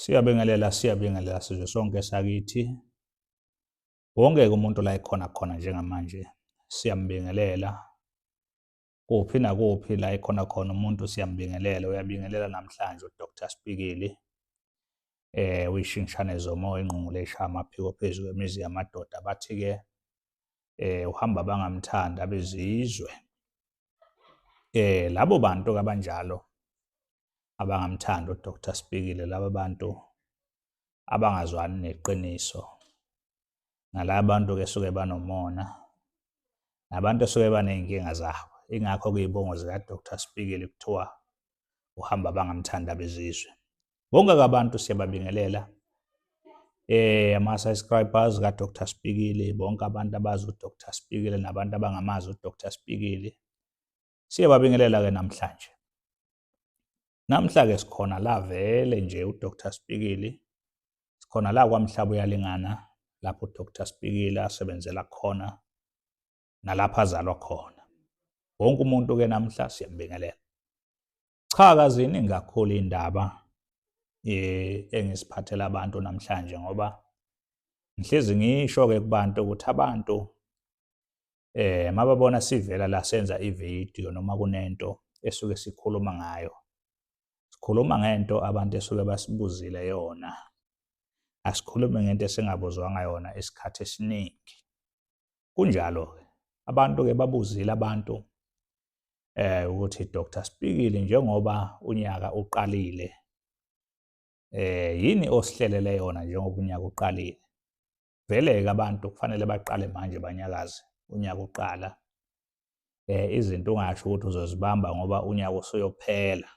Siyabingelela, siyabingelela sizwe sonke sakithi. Wonke-ke umuntu la ekhona khona njengamanje siyambingelela. Kuphi nakuphi la ekhona khona umuntu siyambingelela, uyabingelela namhlanje uDr Spikili. Eh uyishingishane zomoya ingqungule ishaya amaphiko phezu kwemizi yamadoda bathi-ke eh uhamba bangamthanda abezizwe. Eh labo bantu kabanjalo abangamthandi uDr Sibhikile laba bantu abangazwani neqiniso nalaba bantu ke suke banomona nabantu suke baneyinkinga zabo ingakho kuyibongo zika Dr Sibhikile kuthiwa uhamba bangamthanda bezizwe bonke abantu siyababingelela eh ama subscribers ka Dr Sibhikile bonke abantu abazi uDr Sibhikile nabantu abangamazi uDr Sibhikile Siyababingelela-ke namhlanje. Namhla-ke sikhona la vele nje uDr Spikili, sikhona la kwaMhlaba uyalingana lapho uDr Spikili asebenzela khona nalapha azalwa khona. Wonke umuntu-ke namhla siyambingelela. Cha kaziningi kakhulu iy'ndaba eh, engisiphathela abantu namhlanje ngoba ngihlezi ngisho-ke kubantu ukuthi abantu eh mababona sivela la senza ivideo noma kunento esuke sikhuluma ngayo sikhuluma ngento abantu esuke basibuzile yona asikhulume ngento esingabuzwanga yona isikhathi esiningi kunjalo ke abantu ke babuzile abantu eh ukuthi Dr Spikile njengoba unyaka uqalile eh yini osihlelele yona njengoba unyaka uqalile Vele-ke abantu kufanele baqale manje banyakaze unyaka uqala. Eh izinto ungasho ukuthi uzozibamba ngoba unyaka usuyophela.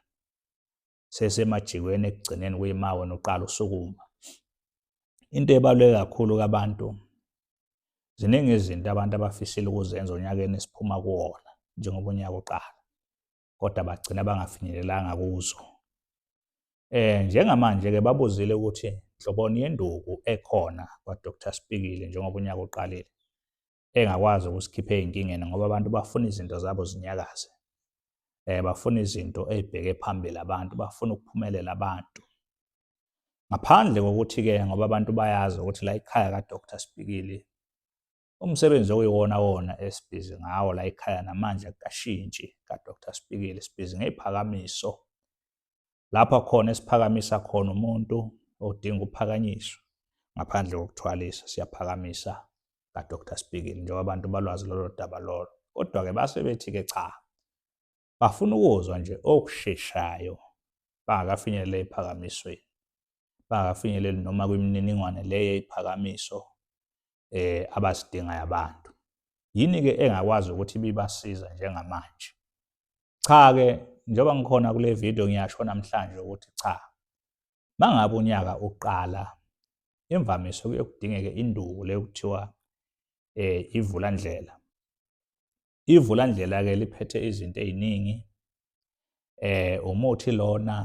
Sesemajikweni ekugcineni kuyima wena uqala usukuma. Into ebaluleke kakhulu kabantu ziningi izinto abantu abafisile ukuzenza onyakeni esiphuma kuwona njengoba unyaka uqala. kodwa bagcina bangafinyelelanga kuzo. Eh njengamanje ke babuzile ukuthi nhloboni yenduku ekhona kwaDr Spikile njengoba unyaka uqalile engakwazi ukusikhipha ezinkingeni ngoba abantu bafuna izinto zabo zinyakaze. Eh bafuna izinto ezibheke phambili abantu, bafuna ukuphumelela abantu. Ngaphandle kokuthi ke ngoba abantu bayazi ukuthi la ikhaya kaDr Spikile Umsebenzi okuyiwona wona esibhizi ngawo la ekhaya namanje akashintshi kaDr Spikili sibhizi ngeziphakamiso lapha khona esiphakamisa khona umuntu odinga ukuphakanyiswa ngaphandle kokuthwalisa siyaphakamisa kaDr Spikili njengoba abantu balwazi lolo daba lolo kodwa-ke base bethi-ke cha bafuna ukuzwa nje okusheshayo bangakafinyeleli eziphakamisweni bangakafinyeleli noma kwimininingwane le yeziphakamiso eh abazidingayo abantu yini ke engakwazi ukuthi bibasiza njengamanje cha ke njengoba ngikhona kule video ngiyasho namhlanje ukuthi cha mangabe unyaka uqala imvamisa kuyokudingeke induku le kuthiwa eh ivula ndlela Ivulandlela-ke liphethe izinto ey'ningi eh umuthi lona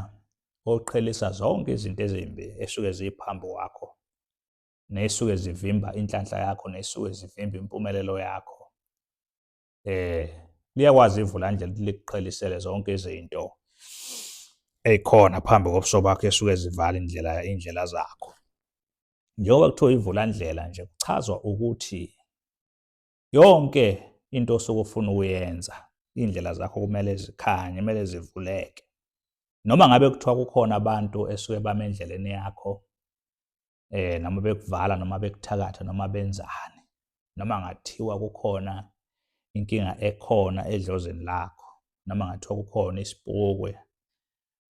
oqhelisa zonke izinto ezimbi esuke ziphambi kwakho nesuke zivimba inhlanhla yakho nesuke zivimba impumelelo yakho eh liyakwazi ivula nje likuqhelisele zonke izinto ezikhona phambi kobuso bakho esuke zivala indlela indlela zakho njengoba kuthiwa ivula ndlela nje kuchazwa ukuthi yonke into osuke ufuna ukuyenza iy'ndlela zakho kumele zikhanye kumele zivuleke noma ngabe kuthiwa kukhona abantu esuke bame endleleni yakho eh noma bekuvala noma bekuthakatha noma benzani noma ngathiwa kukhona inkinga ekhona edlozini lakho noma ngathiwa kukhona isipokwe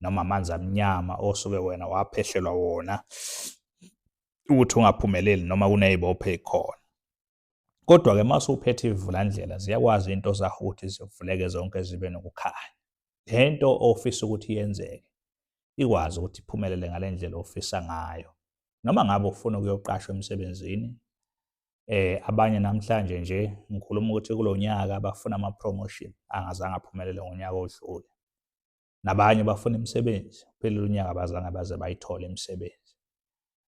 noma amanzi amnyama osuke wena waphehlelwa wona ukuthi ungaphumeleli noma kuney'bopho ey'khona Kodwa ke mase uphethe ivulandlela ziyakwazi into zahuthi zivuleke zonke zibe nokukhanya. Lento ofisa ukuthi yenzeke ikwazi ukuthi iphumelele ngalendlela ofisa ngayo. Noma ngabe ufuna ukuyoqashwa emsebenzini eh abanye namhlanje nje ngikhuluma ukuthi kulonyaka bafuna ama promotion angazange aphumelele ngonyaka odlule. nabanye bafuna imisebenzi uphelile unyaka bazange baze bayithole imisebenzi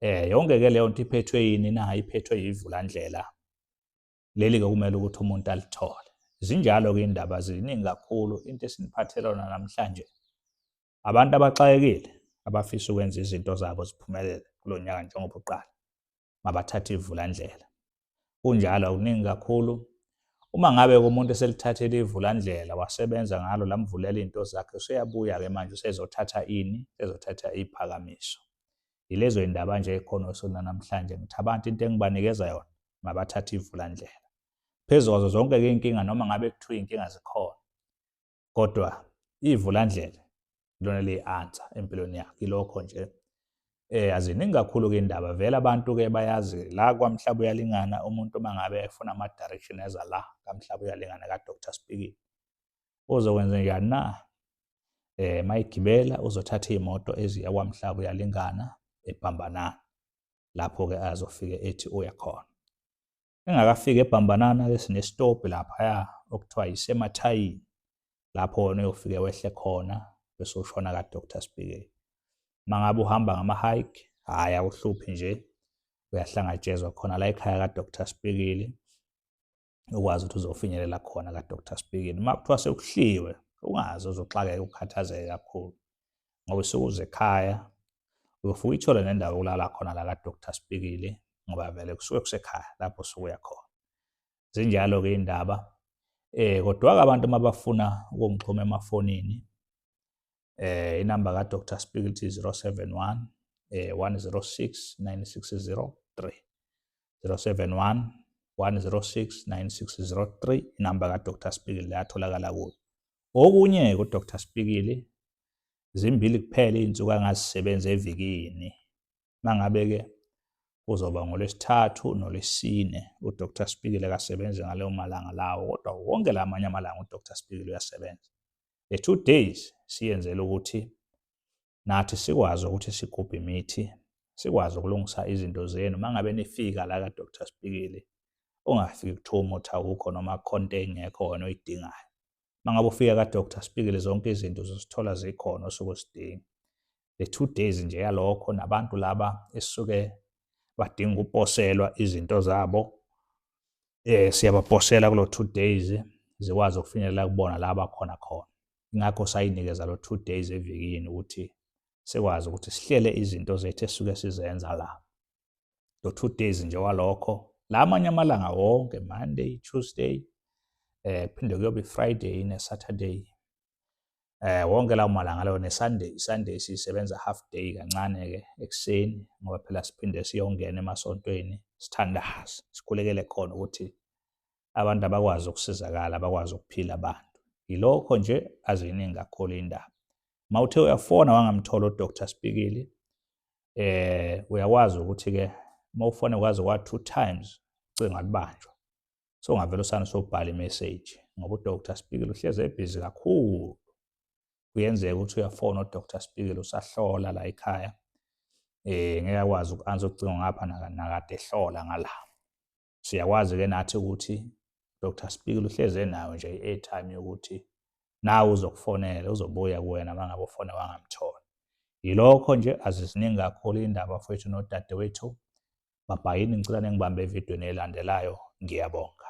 eh yonke ke leyo nto iphethwe yini na iphethwe yivulandlela leli ke kumele ukuthi umuntu alithole zinjalo ke indaba ziningi kakhulu into esiniphathelana namhlanje abantu abaxakekile abafisa ukwenza izinto zabo ziphumelele kulo nyaka njengoba uqala mabathathe ivulandlela kunjalo akuningi kakhulu uma ngabe kumuntu eselithathele ivulandlela wasebenza ngalo lamvulela into zakhe useyabuya ke manje usezothatha ini ezothatha iphakamiso yilezo indaba nje ekhona osona namhlanje ngithi abantu into engibanikeza yona mabathathe ivulandlela phezu kwazo zonke ke inkinga noma ngabe kuthiwa inkinga zikhona kodwa ivulandlela lona liyi-ansa empilweni yakhe ilokho nje eh aziningi kakhulu ke indaba vele abantu ke bayazi la kwamhlaba uyalingana umuntu uma ngabe efuna ama direction eza la kamhlaba uyalingana ka Dr Speaking uzokwenza njani na eh mayigibela uzothatha imoto eziya kwamhlaba uyalingana ebhambanana lapho ke azofike ethi uya khona engakafiki ebhambanana ke sinestobhi laphaya okuthiwa yisemathayini lapho wona uyofike wehle khona bese ushona ka-doctor sibheke uma ngabe uhamba ngama-hike hhayi akuhluphi nje uyahlangatshezwa khona la ekhaya ka-doctor sibhekile ukwazi ukuthi uzofinyelela khona ka-doctor sibhekile uma kuthiwa sekuhliwe ungazi uzoxakeka ukhathazeke kakhulu ngoba usuke uze ekhaya uyofuka uyithole nendawo yokulala khona la kadoktar sibikile ngoba vele kusuke kusekhaya lapho usuke uya khona zinjalo-ke iy'ndaba eh kodwa-ke abantu uma bafuna ukungixhuma emafonini eh inamba kadr spiglet 071 eh 106 9603 071 106 9603 inamba kadr spiglet yatholakala kuyo Okunye-ke uDr Spikili, zimbili kuphela iy'nsuku angazisebenza evikini. Uma ngabe-ke kuzoba ngolwesithathu nolwesine, uDr Spikili akasebenzi ngaleyo malanga lawo, kodwa wonke la amanye amalanga uDr Spikili uyasebenza. The two days siyenzela ukuthi nathi sikwazi ukuthi sigubhe imithi sikwazi ukulungisa izinto zenu uma ngabe nifika la ka-doctor sibikile ungafiki kuthiwa umuthi awukho noma khonto engekho wena oyidingayo uma ngabe ufika ka-doctor sibikile zonke izinto uzosithola zikhona osuke usidinga le two days nje yalokho nabantu laba esuke badinga ukuposelwa izinto zabo eh siyabaposela kulo two days zikwazi ukufinyelela kubona la bakhona khona ingakho sayinikeza lo two days evikini ukuthi sikwazi ukuthi sihlele izinto zethu esuke sizenza la lo two days nje walokho la amanye amalanga wonke monday tuesday eh phinde kuyobe friday ne saturday eh wonke lawo malanga lawo nesunday sunday sisebenza half day kancane ke ekuseni ngoba phela siphinde siyongena emasontweni sithandaze sikhulekele khona ukuthi abantu abakwazi ukusizakala abakwazi ukuphila abantu yilokho nje aziningi kakhulu indaba uma uthe uyafona wangamthola udr spikili eh uyakwazi ukuthi-ke uma ufone kwazi kwa-two times ucinga lubanjwa so ungavele usane sobhala imeseji ngoba udr spikili uhlezi ebhizi kakhulu kuyenzeka ukuthi uyafona udr spikili usahlola la ekhaya eh ngeke akwazi uku-ansa ucingo ngapha nakade ehlola ngala siyakwazi ke nathi ukuthi Dr Speaker uhleze nawe nje i-airtime yokuthi nawe uzokufonela uzobuya kuwena uma ngabe ufone wangamthola yilokho nje aziziningi kakhulu indaba fethu nodadewethu babhayini ngicela ningibambe evidweni elandelayo ngiyabonga